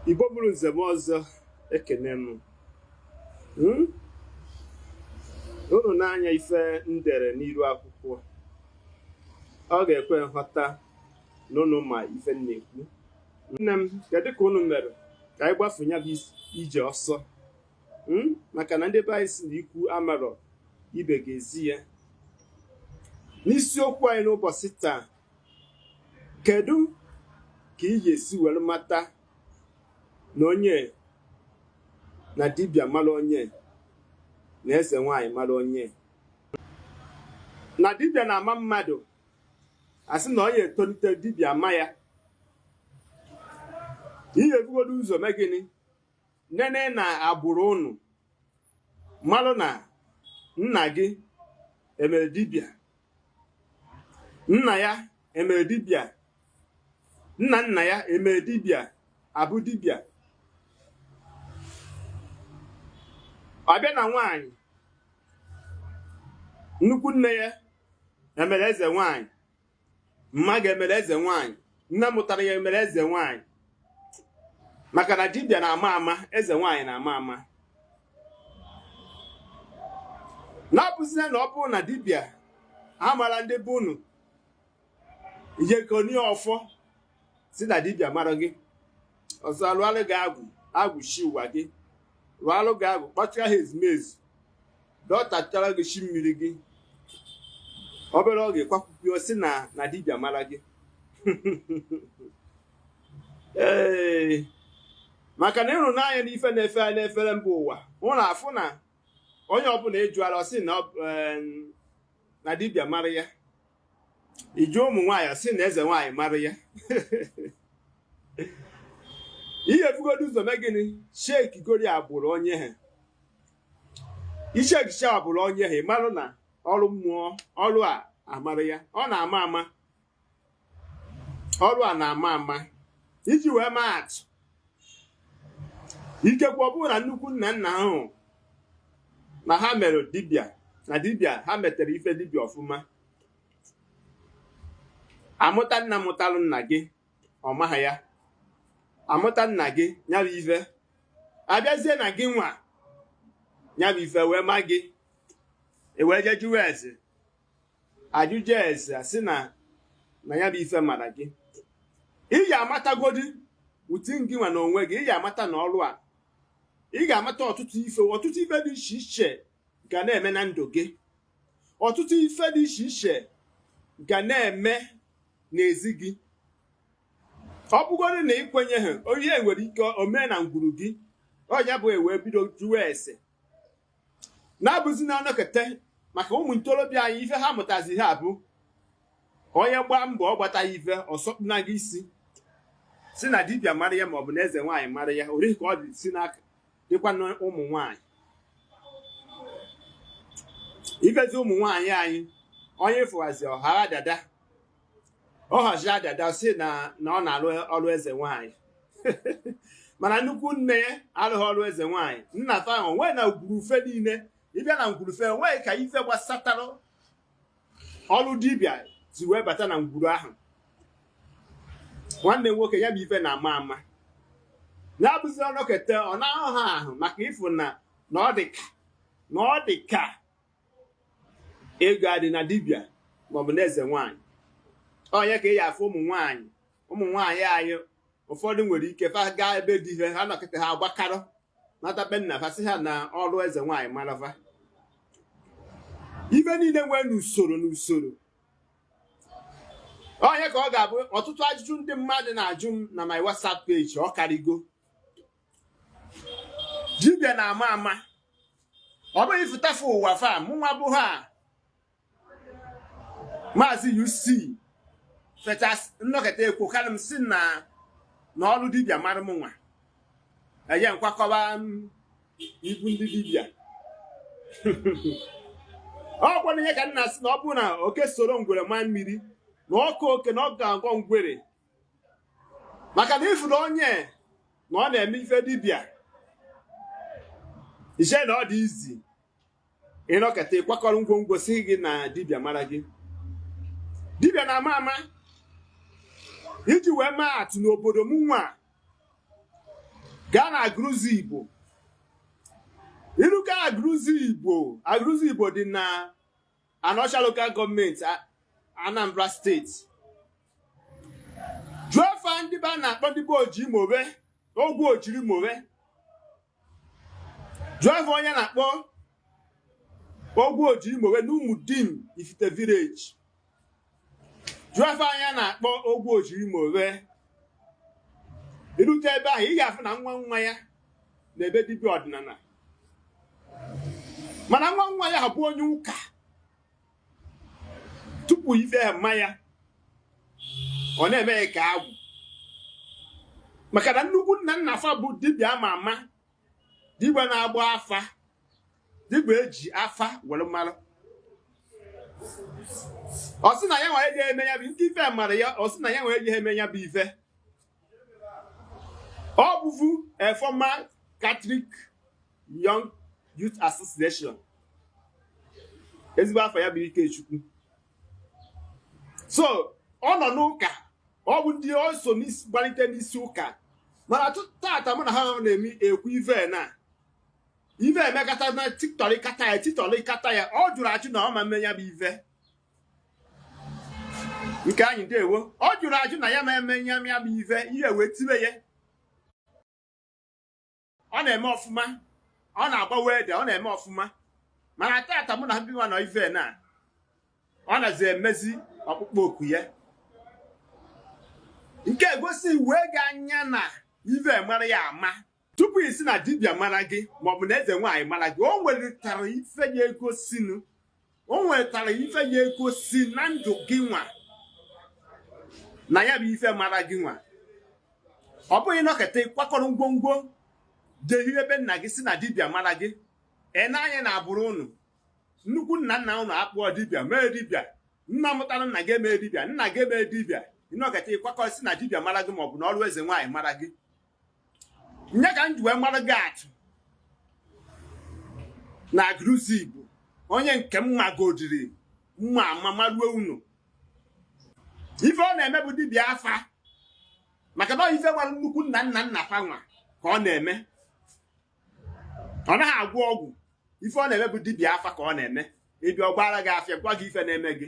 igbo bụrụ nze na ọzọ ekene m hmm? unu nee anya ife m dere n'iru akwụkwọ ọ ga-ekwe nghọta na unu ma ife m na-ekwu nne m kedu ka unu mere ka anyị gbafu ya bụ ije ọsọ hmm? maka na ndị be anyị si na ikwu amarọ ibe ga-ezi ya n'isiokwu anyị n'ụbọchị taa Kedụ ka ị ga-esi were mata na onye na dibịa mara onye na eze nwaanyị mara onye na dibịa na-ama mmadụ asị na onye etolite dibịa ama ya ị ya-ebugodo ụzọ mee gịnị nene n'agbụrụ unu malụ na nna gị emere dibịa nna ya emere dibịa nna nna ya emere dibịa abụ dibịa ọ bịa na nwaanyị nnukwu nne ya emere eze nwaanyị mma gị emere eze nwaanyị nne mụtara ya emere eze nwaanyị maka na dibịa na-ama ama eze nwaanyị na-ama ama na ọ bụzina na ọ bụrụ na dibịa amara ndị be unu i jee koni ọfọ sị na dibịa mara gị ọzọ a lụalụ gị agwụ agwụ chi ụwa gị lụalụ gị agwụ kpọchara ha ezumezu dọtachara gị chi mmiri gị obere oge kwakwupio sị na na dibịa mara gị ee maka na ịhụnanya na ife na-efe anyị n'efere mba ụwa hụ na-afụ na onye ọbụla ị jụala ọ sị na dibịa mara ya ị jụọ ụmụ nwaanyị ọ sị na eze nwaanyị mara ya ị ya-ebugodo ụzọ mee gịnị checkgodi agbụrụ onye ha ị checkcha agbụrụ onye ha ị marụ na ọrụ mmụọ ọrụ a amara ya ọ na-ama ama ọrụ a na-ama ama iji wee maa atụ ikekwe ọ bụrụ na nnukwu nna nna ahụ na ha mere dibịa na dibịa ha metere ife dibịa ọfụma a mụta nna mụtalụ nna gị ọ maha ya a mụta nna gị nya bụ ife abịazie na gị nwa nya bụ ife wee ma gị e wee jee jụwa ese ajụjụ ese asị na na ya bụ ife mara gị ị ga-amatagodi within gị nwa na onwe gị ị ga-amata na ọrụ a ị ga-amata ọtụtụ ife ọtụtụ ife dị iche iche ga na-eme na ndụ gị ọtụtụ ife dị iche iche ga na-eme n'ezi gị ọ bụgodị na ị kwenyeha o nwe ihe nwere ike omee na ngwuru gị ọ nya bụ e wee bido jụwa ese na-abụzi na a nọkete maka ụmụ ntorobịa anyị ife ha mụtazi ha bụ onye gbaa mbọ ọ gbataha ife ọ sọkpuna gị isi sị na dibịa mara ya maọbụ na eze nwaanyị mara ya orihi ka ọ dị si n'aka dịkwa na ụmụ nwaanyị ị fụzi ụmụ nwaanyị anyị onye fụwazi ọ hara dada ọ hazi dada sị na na ọ na-alụ ọrụ eze nwaanyị mana nnukwu nne ya alụghị ọrụ eze nwaanyị nna fa o nweghị na ngwuru fe niile ị bịa na ngwuru fe o nweghị ka ife gbasatara ọrụ dibịa si wee bata na ngwuru ahụ nwanne nwoke ya bụ ife na-ama ama na-abụzi ọ nọkete ọ na-ahụ ha ahụ maka ị fụ na na ọ dị ka na ọ dị ka ego adị na dibịa maọbụ na eze nwaanyị ọ nya ka ị ya-afụ ụmụ nwaanyị ụmụ nwaanyị anyị ụfọdụ nwere ike fa gaa ebe di he ha nọkịta ha agbakarọ nata be nna fa sị ha na ọrụ eze nwaanyị mara fa ife niile nwere n'usoro n'usoro ọ nya ka ọ ga-abụ ọtụtụ ajụjụ ndị mmadụ na-ajụ m na my WhatsApp page ọ karịgo dibịa na-ama ama ọ bụghị ifụtafe ụwa fa mụnwa bụ ha maazị UC fechas m nọkete ekwukalụ m sị na na ọrụ dibịa mara m nwa eje m kwakọba ibu ndị dibịa ọ gwara ihe ka nna sị na ọ bụrụ na oke soro ngwere maa mmiri na ọ kọọ oke na ọ ga-akọ ngwere maka na ị fụrụ onye na ọ na-eme ife dibịa ị chee na ọ dị easy ị nọkete ị kwakọrọ ngwongwo sị gị na dibịa mara gị dibịa na-ama ama iji wee maa atụ n'obodo m nwa gaa na Agụlụzigbo iruka Agụlụzigbo Agụlụzigbo dị na Anaọcha Local Government Anambra State jụọ fa ndị be a na-akpọ ndị be oji mowe ogwu ojiri mowe jụọ fa onye a na-akpọ ogwu ojiri mowe n'Umudim Ifite Village jụọ afa onye a na-akpọ ogwu ojiri ma onwe irute ebe ahụ ị ga-afụ na nwa nwa ya na-eme dibịa ọdịnala mana nwa nwa ya bụ onye ụka tupu ife a ama ya ọ na-eme ya ka agwụ maka na nnukwu nna nna fa bụ dibịa ama ama dibịa na-agba afa dibịa eji afa were mara ọ sị na ya nwa ejeghị eme ya bụ nke ife mara ya ọ sị na ya nwa ejeghị eme ya bụ ife ọ bụvu a former Catholic Young Youth Association ezigbo afa ya bụ Ikechukwu so ọ nọ n'ụka ọ bụ ndị ọ so gbalite n'isi ụka mana tata mụ na ha na-eme ekwu ive na ive emekata na titọrị kata ya titọrị kata ya ọ jụrụ ajụ na ọ ma eme ya bụ ive nke anyị ndewo ọ jụrụ ajụ na ya ma eme ya bụ ive ihe wee tibe ya ọ na-eme ọfụma ọ na-agba welder ọ na-eme ọfụma mana tata mụ na gị nwa nọ ive na ọ nazi emezi ọkpụkpọ oku ya nke egosi wee gị anya na ive mara ya ama tupu ị sị na dibịa mara gị maọbụ na eze nwaanyị mara gị o nwetara ife ya egosinu o nwetara ife ya egosi na ndụ gị nwa na ya bụ ife mara gị nwa ọ bụghị ị nọketa ị kwakọrọ ngwongwo jehiri ebe nna gị sị na dibịa mara gị ị nee anya na agbụrụ ụnụ nnukwu nna nna ụnụ akpụọ dibịa mee dibịa nna mụtara nna gị emee dibịa nna gị emee dibịa ị nọketa ị kwakọrọ sị na dibịa mara gị maọbụ na ọrụ eze nwaanyị mara gị nye ka m ji wee mara gị atụ na Agụlụzigbo onye nke m magodiri mma ama maruo unu ife ọ na-eme bụ dibịa afa maka na ife mara nnukwu nna nna nna fanwa ka ọ na-eme ọ naghị agwọ ọgwụ ife ọ na-eme bụ dibịa afa ka ọ na-eme ị bịa ọ gbaara gị afa gwa gị ife na-eme gị